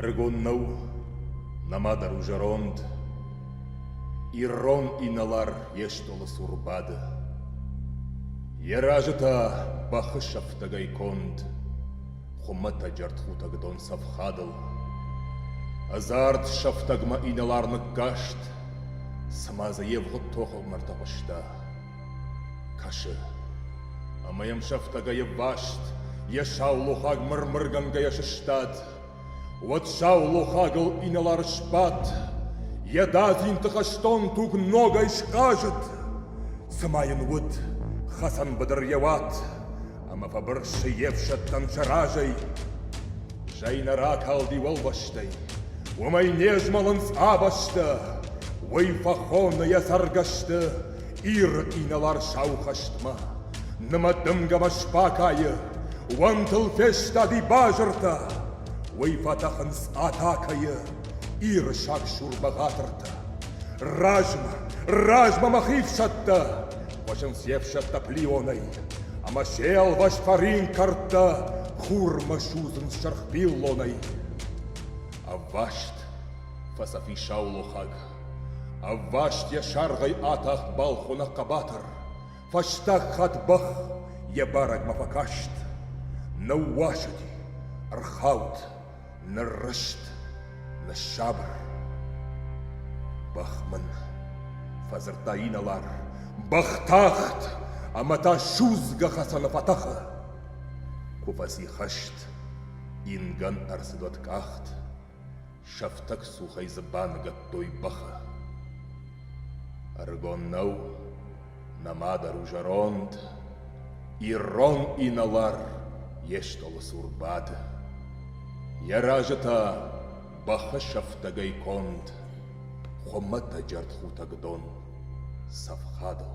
Ӕрыгон нӕу, нӕма дӕр у зӕронд, Ирон инӕлар йе стъолы цур бады. Йӕ разы та бӕхы сӕфтӕгӕй конд, Хуымӕтӕг ӕртхутӕг дон цӕф хадыл. Ӕдзард сӕфтӕгмӕ инӕлар ныккаст, цыма дзы йе вгъуыд тохыгъд ӕртӕхъуыста. Кӕсы, ӕмӕ йӕм сӕфтӕгӕй ӕвваст, йӕ саулохаг мыр-мыргӕнгӕйӕ сыстад. Уӕд саулохагыл инӕлар сбадт, йӕ дадзинты хӕстон туг ногӕй схъазыд, цыма йын уыд хӕцӕн быдыр йӕ уат. Ӕма фӕбырсси йе фсӕдтӕн сӕ разӕй. Зӕй нӕ ракалди уӕлвӕстӕй, уомӕй не змӕлынц ӕ бӕстӕ, уой фӕххонна йӕ цӕргӕсты Иры инӕлар-сау хӕстмӕ. Нымӕ дымгӕмӕ сбакайы, уӕнтыл фестади базыртӕ, уый фӕтӕхынц атакӕйы Иры сагсур бӕгъатыртӕ. Размӕ, размӕ мӕ хи фсӕдтӕ! Хуызын се фсӕдтӕ плионӕй, ӕмӕ се ӕлвӕст фӕрин кӕрдтӕ хурмӕ судзын сырх пиллонӕй. Ӕвваст фӕцӕфи саулохаг, ӕвваст йӕ саргъӕй атахт балхуны хъӕбатыр, фӕстаг хатт бӕх йӕ барӕгмӕ фӕкаст. Ныууасыди, ӕрхауд, Ныррызт, ныссабыр. Бӕх мын, фӕдзырдта инӕлар, бӕх тахт ӕмӕ та судзгӕ хӕцӕны фӕтӕхы. Куы фӕци хӕст, ингӕн ӕрцыдот къахт, сӕфтӕг цухӕй дзы баныгӕдтой бӕхы. Ӕрыгон нӕу, Нӕма дӕр у зӕронд, Ирон инӕлар йе стъолы цур бад. Йӕ разы та бӕхысӕфтӕгӕй конд Хуымӕтӕг джӕртхутӕг дон цӕф хадыл.